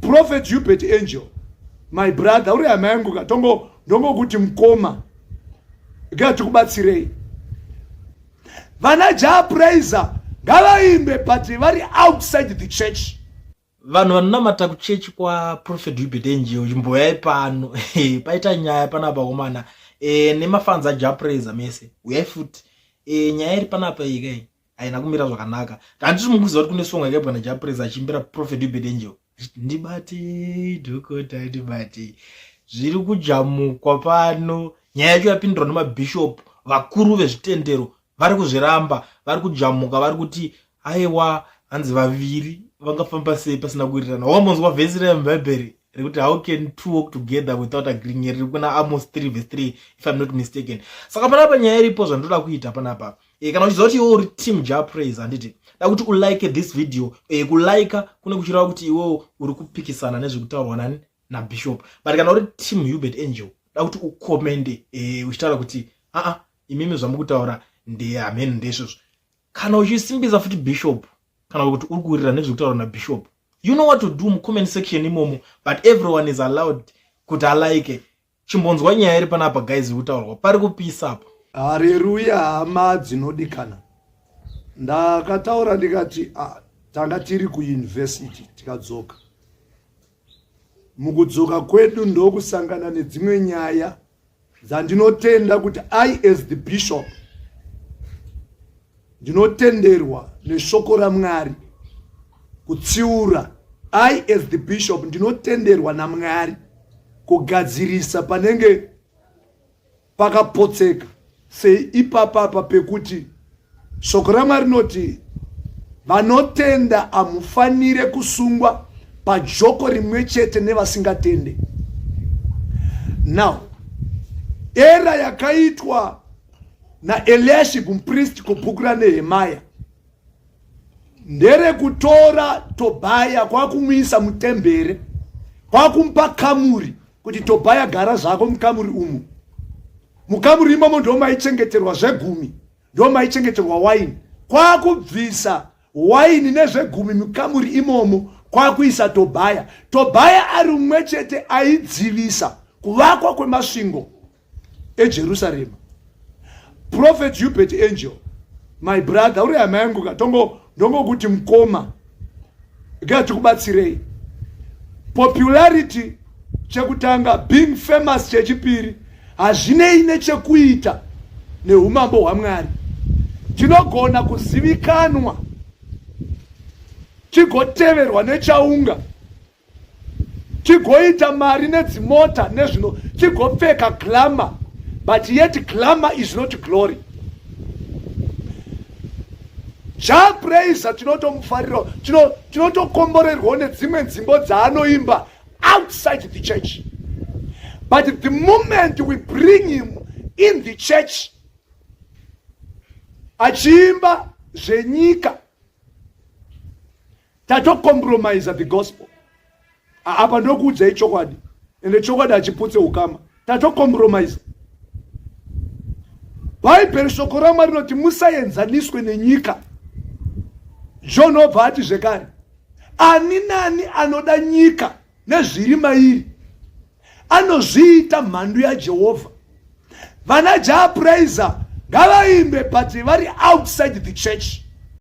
Prophet Hubert Angel, my brother, uri hama yangu ka tongo ndongokuti mkoma ga tikubatsirei vana Jah Prayzah ngavaimbe but vari outside the church vanhu vanonamata kuchechi kwaprophet hubert angel chimboyai pano paita nyaya pana vakomana e, nemafanzi ajapraiza mese uyai futi e, nyaya iri panapa ikai haina kumira zvakanaka handiti mukuziva kuti kune song yakaibwa najapresa achiimbira prophet ubed angel achiti ndibatei dhokota ndibatei zviri kujamukwa pano nyaya yacho yapindurwa nemabhishopu vakuru vezvitendero vari kuzviramba vari kujamuka vari kuti aiwa hanzi vaviri vangafamba sei pasina kuirirana wamonzwa vhesi remubhaibheri rekuti how can two walk together without agreeing riri kuna amos 3 vs 3 if im not mistaken saka panapa nyaya iripo zvandoda kuita panapa e, kana uchiziva kuti iwe uri team ja praise handiti da kuti ulike this video e, kulike kune kuchireva kuti iwe uri kupikisana nezvekutaurwa nani nabishop but kana uri team hubert angel da kuti ukomende e, uchitaura kuti aa imimi zvamukutaura ndehamheni ndesvozvo kana uchisimbisa futi bishop kana kuti uri kuwirira nezvekutaura nabishop you know what to do mucomment section imomo but everyone is allowed kuti alike chimbonzwa nyaya iri panapa guys ikutaurwa pari kupisa apa hareruya hama dzinodikana ndakataura ndikati ah, tanga tiri kuuniversity tikadzoka mukudzoka kwedu ndokusangana nedzimwe nyaya dzandinotenda kuti i as the bishop Ndinotenderwa neshoko raMwari kutsiura. I as the bishop ndinotenderwa naMwari kugadzirisa panenge pakapotseka sei ipapa apa pekuti shoko ramwari rinoti vanotenda hamufanire kusungwa pajoko rimwe chete nevasingatende now era yakaitwa naeliashibu mupristi ko bhuku ranehemaya nderekutora tobhaya kwakumuisa mutembere kwakumupa kamuri kuti tobhaya gara zvako mukamuri umu mukamuri imomo ndo maichengeterwa zvegumi ndo maichengeterwa waini kwakubvisa waini nezvegumi mukamuri imomo kwakuisa tobhaya tobhaya ari umwe chete aidzivisa kuvakwa kwemasvingo ejerusarema prophet hubert angel my brother uri hama yangu ka ndongokuti mkoma ga tikubatsirei popularity chekutanga being famous chechipiri hazvinei nechekuita neumambo hwamwari tinogona kuzivikanwa tigoteverwa nechaunga tigoita mari nedzimota nezvino tigopfeka glamour but yet glamour is not glory ja praiser tinotomufarira tinotokomborerwawo nedzimwe nzimbo dzaanoimba outside the church but the moment we bring him in the church achiimba zvenyika tatocompromiser the gospel apa ndokuudzai chokwadi ende chokwadi hachiputse ukama tatocompromiser bhaibheri shoko ramwari rinoti musaenzaniswe nenyika john obva ati zvekare ani nani anoda nyika nezviri mairi anozviita mhandu yajehovha vana jaapuraiza ngavaimbe but vari outside the church